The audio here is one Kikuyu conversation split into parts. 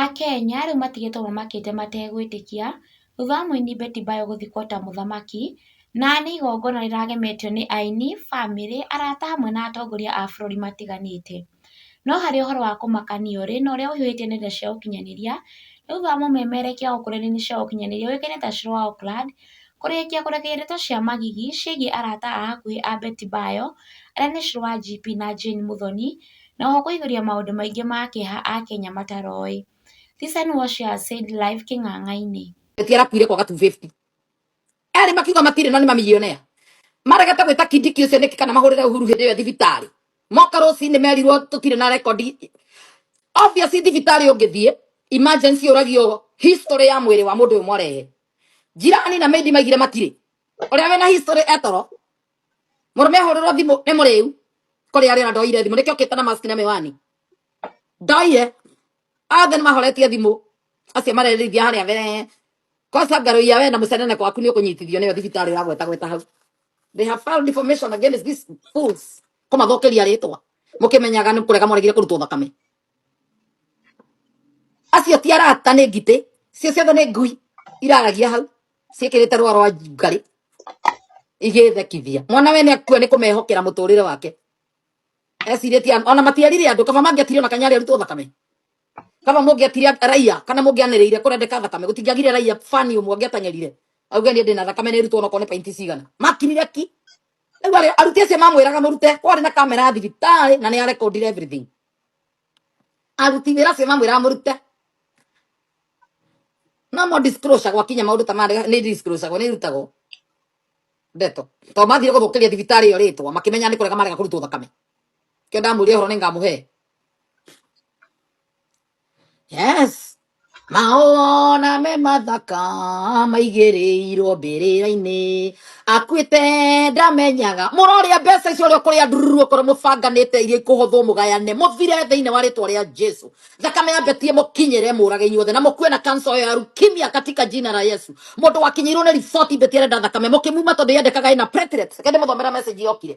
Akenya rĩu matigĩtwo mamakĩte mategwĩtĩkia thutha wa mũini Betty Bayo gũthikwo ta mũthamaki, na nĩ igongona rĩragemetio nĩ aini, bamĩrĩ, arata hamwe na atongoria a bũrũri matiganĩte. No harĩ ũhoro wa kũmakania ũrĩ na ũrĩa ũihũrĩtie nenda cia ũkinyanĩria, nĩ thutha wa mũmemerekia gũkũ nenda-inĩ cia ũkinyanĩria ũĩkaine ta Shero wa Oakland, kũrĩkia kũrekereria ndeto cia magigi ciĩgiĩ arata a hakuhĩ a Betty Bayo, arĩa nĩ Shero wa GP na Jane Muthoni, na oho kũihũria maũndũ maingĩ ma kĩeha akenya mataroĩ. Citizen Watch ya Said Live Kĩng'ang'ainĩ. Eti arakuire kwaga 250 erĩ makiuga matirĩ no nĩ mamillionaire maregete gwĩta kindiki ũcio nĩkĩ kana mahũrĩre uhuru hĩndĩ ĩyo thibitarĩ moka rũcinĩ merirwo tũtirĩ na rekondi obvious thibitarĩ ũngĩthiĩ emergency ũragio history ya mwĩrĩ wa mũndũ ũyũ mwarehe jirani na maidi maigire matirĩ ũrĩa wĩna history etoro murume hururwo thimu ni muriu kuri ari ona ndoire thimu niki okite na mask na miwani ndoire othe ni mahoretie thimu acio marerithia haria mbere kosa ngaruia we na mucenene kwaku ni ukunyitithio niyo thibitari uragweta gweta hau they have filed information against these fools kumathokeria ritwa mukimenyaga ni kurega moregire kurutwo thakame acio ti arata nĩ ngitĩ cio ciothe nĩ ngui iraragia hau ciĩkĩrĩte rũa rwa ngarĩ igĩthekithia mwana we nĩ akua nĩ kũmehokera mũtũrĩre wake ecirĩtie an- ona matiarire andũ kaba mangĩatire ona kanyarĩ arutwo thakame kaba mũngĩatire raia kana mũngĩanĩrĩire kũrendeka thakame gũtingĩagire raia fani ũmwe angĩatanyarire auge niĩ ndĩna thakame nĩ rutwo ona korwo nĩ painti cigana makinire ki rĩu arĩ- aruti acio mamwĩraga mũrute kwarĩ na kamera ya thibitarĩ na nĩ arekondire everything aruti wĩra acio mamwĩra mũrute no mo disclosure gwakinya maũndũ ta marĩa nĩ disclosure nĩ irutagwo ndeto to mathire gũthũkĩria thibitarĩ ĩyo rĩtwa makĩmenya nĩ kũrega marega kũrutwo thakame kĩo ndamwĩria ũhoro nĩ ngamũhe yes Maona me mathaka maigĩrĩirwo mbĩrĩra-inĩ akuĩte ndamenyaga mũrorĩa mbeca icio ũrĩa kũrĩa ndururu okorwo mũbanganĩte iria ikũhũthwo mũgayane mũthire thĩinĩ wa rĩtwa rĩa jesu thakame ya betie mũkinyĩre mũrage inyuothe na mũkue na kansa ĩyo ya rukimia katika jina la yesu mũndũ wakinyĩirwo nĩ riboti betie arenda thakame mũkĩmuma tondũ yendekaga ĩna platelets reke ndĩmũthomera message yokire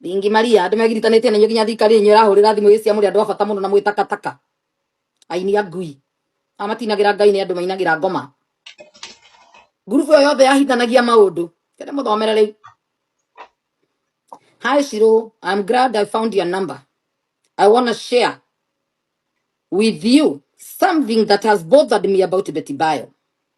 Ningi Maria andu megiritanĩtie na inyo nginya thikari inyo irahũrĩra thimũ cia mũrĩ andũ a bata mũno na mwĩ takataka aini a ngui amatinagĩra ngai nĩ andũ mainagĩra ngoma ngurubu ĩyo yothe yahitanagia maũndũ kende mũthomere rĩu hi shiro i'm glad i found your number i wanna share with you something that has bothered me about betty bio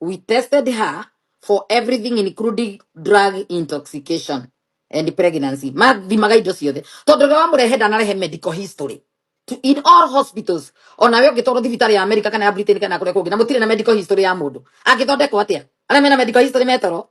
We tested her for everything including drug intoxication and pregnancy. Ma thimaga indo ciothe. Tondu ria wamurehe ndanarehe medical history. To, in all hospitals, ona we ũngĩtwarwo thibitarĩ ya Amerika kana ya Britain kana kũrĩa kũngĩ na mũtirĩ na medical history ya mũndũ. Angĩthondekwo atĩa? Arĩa mena medical history metoro.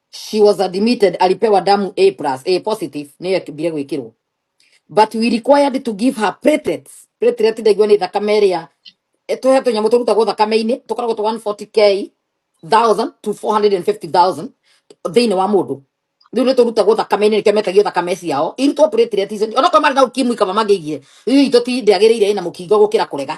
she was admitted alipewa damu a plus a positive niyo ekibire gwikirwo but we required to give her platelets platelet ndaigua ni thakame iria tuhe tunyamu turutagwo thakame-inĩ tũkoragwo tũ 140k 1000 to 450000 thĩinĩ wa mũndũ rĩu nĩ tũrutagwo thakame-inĩ nĩkĩo metagio thakame ciao irutwo platelet icio onakorwo marĩ na ukimwi kaba mangĩigire rĩu itũ ti ndĩagĩrĩire ĩna mũkingo gũkĩra kũrega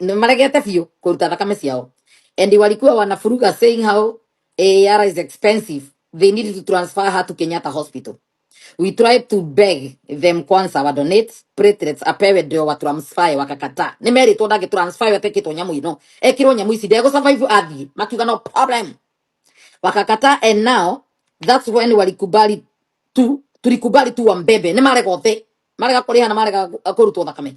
nĩ maregete biũ kũruta thakame ciao and walikuwa wanafuruga saying how AAR is expensive they needed to transfer her to Kenyatta hospital we tried to beg them kwanza wa donate platelets apewe ndio wa transfer wakakataa nimeritwo ndage transfer atekitwo nyamu ino ekirwo nyamu ici ndego survive athie makiuga no problem wakakataa and now that's when walikubali tu tulikubali tu wambebe nĩ marega othe marega kũrĩha na marega kũrutwo thakame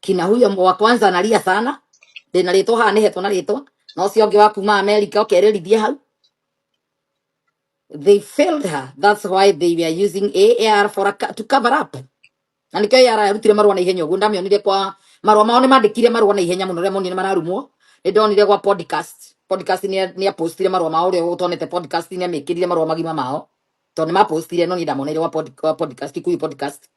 kina huyo mwa- wa kwanza analia sana ndina ritwa haha nä hetwo na ritwa na å cio ngä wa kuma amerika å kerä rithie hau they failed her that's why they were using AAR for a, co- to cover up na nikio AAR yarutire marua na ihenya uguo ndamionire kwa marua mao nimandikire marua na ihenya muno ria monire mararumwo ni ndonire kwa podcast podcast ni ni apostire marua mao ria utonete podcast ni amikirire marua magima mao to ni mapostire no ni ndamonire wa pod, wa podcast kuyu podcast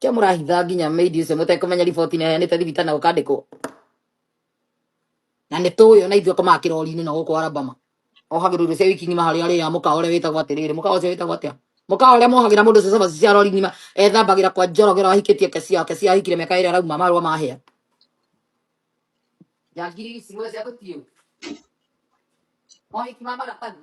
kia mũrahitha nginya meidi ũcio mũtekũmenya riboti neheanĩte thibitarĩ na gũkandĩkwo na nĩ tũĩ ona ithuĩ akomaga kĩrori-inĩ na gũkũ arabama ohagĩrwo irio cia wiki ng'ima harĩa arĩ ya mũkawa ũrĩa wĩtagwo atĩrĩrĩ mũkawa ũcio wĩtagwo atĩa mũkawa ũrĩa mohagĩra mũndũ ũcio cabaci cia rori ng'ima ethambagĩra kwa njorogero ahikĩtie kesi yake cia ahikire mĩaka ĩrĩa arauma marũa mahĩa ya ngiri ici mwĩ cia gũtiũ mohiki ma maratathi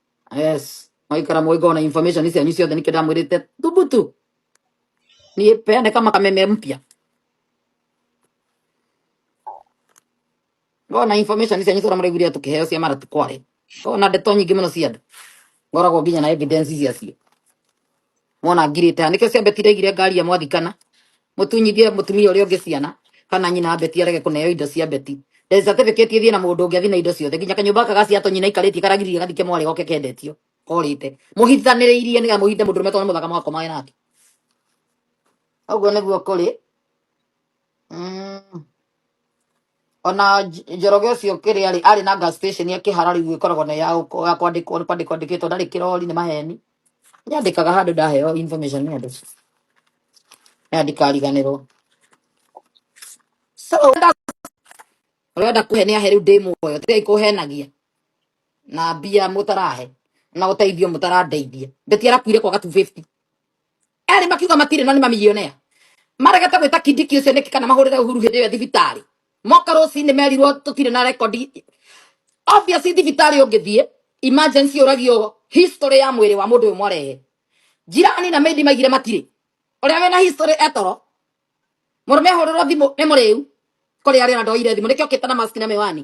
yes mwaikara mwiko na information hizi anyusi yote nikenda mwirite thubutu ni peane kama kameme mpya ngona information hizi anyusi ramre guria tukiheo cia mara tukware ngona ndeto nyingĩ mũno cia andũ ngoragwo nginya na evidence ici acio Mwana ngirĩte ha nĩkĩo cia beti ndaigire ngari ya mwathikana mũtunyithie mũtumia ũrĩa ũngĩ ciana kana nyina wa beti arege kũneo indo cia beti the certificate ithiĩ na mũndũ ũngĩ athiĩ na indo ciothe nginya kanyũmba gaka ga cia tonyina ikarĩtie karagirie gathike mwarĩ goke kendetio korĩte mũhithanĩrĩirie nĩgetha mũhithe mũndũ ũrũme tondũ nĩ mũthaka mũgakomaga nake ũguo nĩguo kũrĩ mm. ona Nj- njoroge ũcio kĩrĩa arĩ arĩ na gas station ya kĩhara rĩu ĩkoragwo na ya gũko- ya kwandĩkwo nĩ kwandĩkwo andĩkĩtwo ndarĩ kĩrori nĩ maheni nyandĩkaga handũ ndaheo information nĩ andũ na ndikariganĩrwo so wenda wenda kũhe nĩ ahe rĩu ndĩ muoyo tigai kũhenagia na mbia mũtarahe na ũteithio mũtarandeithia mbeti arakuire kwaga 250 erĩ makiuga matirĩ na nĩ mamilionea maregete gwĩta kindiki ũcio nĩkĩ kana mahũrĩre ũhuru hĩndĩ ĩyo e thibitarĩ moka rũcinĩ merirwo tũtirĩ na rekondi obviously thibitarĩ ũngĩthiĩ emergency ũragio history ya mwĩrĩ wa mũndũ ũyũ mwarehe njirani na mendi maigire matirĩ ũrĩa wĩna history etoro mũrũme ahũrĩrwo thimũ nĩ mũrĩu kũrĩ arĩa ndoire thimũ nĩkĩo kĩtana mask na mĩwani